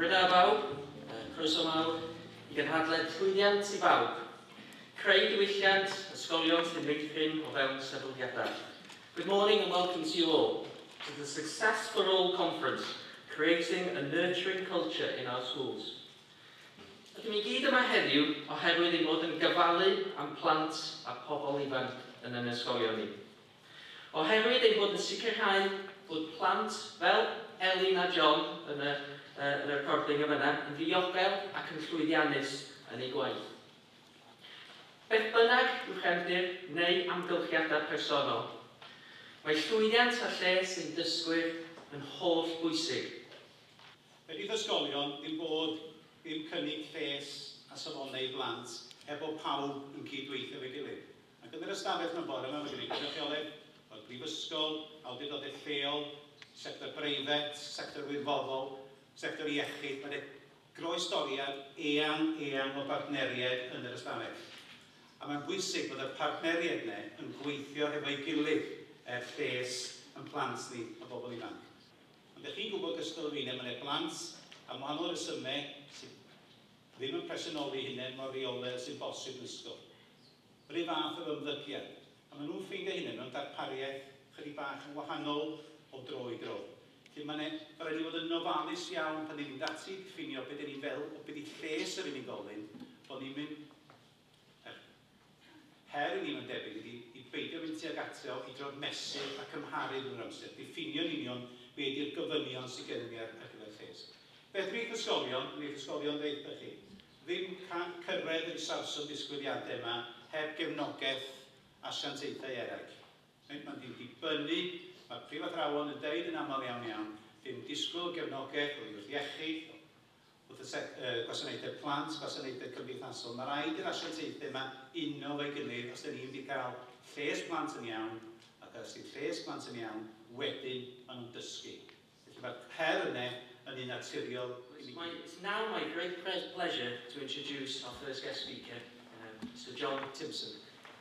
Rydda bawb, croeso mawr i gynhadledd llwyddiant i bawb. Creu diwylliant, ysgolion sy'n meithrin o fewn sefydliadau. Good morning and welcome to you all to the Success for All Conference, Creating a Nurturing Culture in Our Schools. Rydyn ni gyd yma heddiw oherwydd ein bod yn gofalu am plant a phobl ifanc yn ein ysgolion ni. Oherwydd ein bod yn sicrhau bod plant fel Elin a John yn y uh, recording yn fyna yn ddiogel ac yn llwyddiannus yn eu gwaith. Beth bynnag yw chefndir neu amgylchiadau personol, mae llwyddiant a lles ein dysgwyr yn holl bwysig. Fe fydd ysgolion yn bod yn cynnig lles a safonau i blant heb fod pawb yn cyd-weithio efo'i gilydd. Ac yn yr ystafell yma bore yma mae gen i gynrychioledd o'r brifysgol, awdurdodau lleol, sector breifat, sector wirfoddol, sector iechyd, mae 'na groestoriad eang, eang o bartneriaid yn yr ystafell. A mae'n bwysig bod y partneriaid yna yn gweithio hefo'i gilydd er lles yn plant ni a bobl ifanc. Ond dych chi'n gwybod gystal â fi le mae yna blant, am wahanol resymau, sydd ddim yn presennoli'u hunain mor reolaidd â sy'n bosib ddisgwyl. Yr un fath efo ymddygiad. A maen nhw'n ffeindio'u hunain mewn darpariaeth chydig bach yn wahanol o dro i dro. Felly mae yna... Mae'n rhaid i ni fod yn ofalus iawn pan ni'n mynd ati i ddiffinio be dan ni'n feddwl o be 'di lles yr unigolyn, bod ni'm yn Yr her i ni, mae'n debyg, ydi i beidio mynd tuag atreo, i drio mesur a cymharu drwy'r amser, diffinio'n union be ydi'r gofynion sy gennym ni ar gyfer lles. Fedri eich ysgolion, neu eich ysgolion ddeuthpau chi, ddim cyrraedd yr isafswm disgwyliadau yma heb gefnogaeth asiantaethau eraill. Mae'n mynd i ddibynnu, mae'r prifathrawon yn deud yn aml iawn iawn, 'dan ni'n disgwyl gefnogaeth oddi wrth iechyd, wrth y sec, y gwasanaethau plant, gwasanaethau cymdeithasol. Mae rhaid i'r asiantaethau yma uno efo'i gilydd os da ni'n mynd i gael lles plant yn iawn, ac os yw lles plant yn iawn, wedyn maen nhw'n dysgu. Felly mae'r her yna yn un naturiol i ni gyd. It's now my great pleasure to introduce our first guest speaker, um, Sir John Timpson.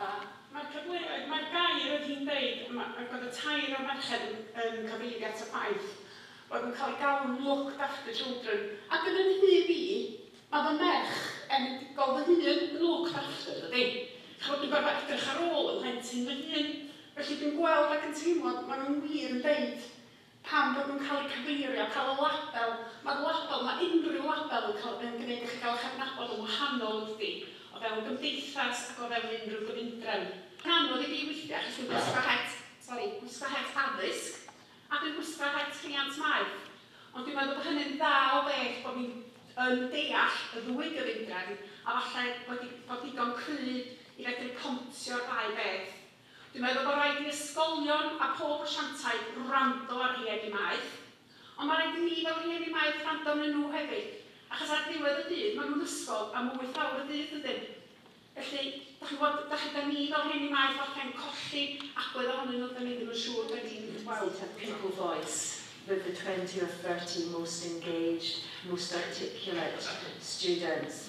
A, mae'r cyfleoedd, mae'r gair oedd hi'n deud, ac oedd y tair o'r merched yn yn cyfeirio at y ffaith bod yn cael ei galw'n 'looked after children', ac yn fy nhyb i, mae fy merch enedigol fy hun yn 'looked after', dydi? Chimod, dwi'n gorfod edrych ar ôl 'y mhlentyn fy hun, felly dwi'n gweld ac yn teimlo, maen nhw wir yn deud, Pam bod nhw'n cael eu cyfeirio, cael y label? Mae'r label, mae unrhyw label yn cael, yn gwneud i chi gael eich adnabod yn wahanol wrthi, o fewn gymdeithas ac o fewn unrhyw gyfundrefn. Mae'n anodd i fi weithiau achos dwi'n gwisgo het, sori, gwisgo het addysg a dwi'n gwisgo het rhiant maeth. Ond dwi'n meddwl bod hynny'n dda o beth bod fi'n yn deall y ddwy gyfundrefn a falle wedi bod digon cry i fedru pontio'r ddau beth. Dwi'n meddwl bod raid i ysgolion a phob asiantaeth wrando ar rhieni maeth, ond mae raid i ni fel rhieni maeth wrando arnyn nhw hefyd, achos ar ddiwedd y dydd maen nhw'n ysgol am wyth awr y dydd dydyn? Felly, dach chi'n gwybod, dach chi... dan ni fel rhieni maeth falle'n colli agwedd ohonyn nhw, dan ni ddim yn siŵr be ni'n weld. A people voice with the twenty or thirty most engaged, most articulate students.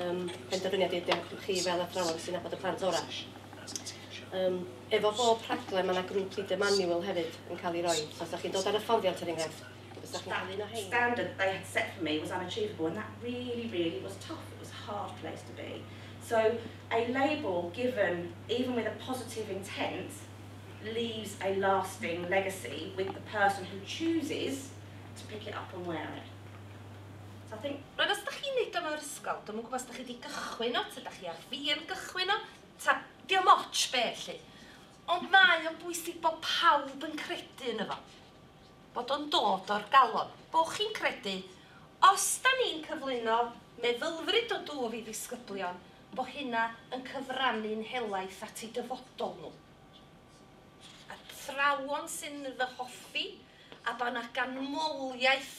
Yym, penderfyniad i diolch i chi fel athrawon sy'n nabod y plant orau. Yym, efo bob rhaglen mae yna grŵp leader manual hefyd yn cael ei roi, so os da chi'n dod ar hyfforddiant er enghraifft, os da chi'n cael un o rhein. standard they had set for me was unachievable and that really, really was tough, it was a hard place to be. So a label given even with a positive intent leaves a lasting legacy with the person who chooses to pick it up and wear it. Rwyf os dach chi'n neud o mewn ysgol, dwi'm yn gwybod os dach chi di gychwyn o, ta dach chi ar fin gychwyn o, ta diom otsh be lly. Ond mae o'n bwysig bod pawb yn credu yno fo. Bod o'n dod o'r galon. Bo chi'n credu, os da ni'n cyflwyno meddylfryd o dwf i ddisgyblion, bo hynna yn cyfrannu'n helaeth at eu dyfodol nhw. Athrawon sy'n fy hoffi, a bod yna ganmoliaeth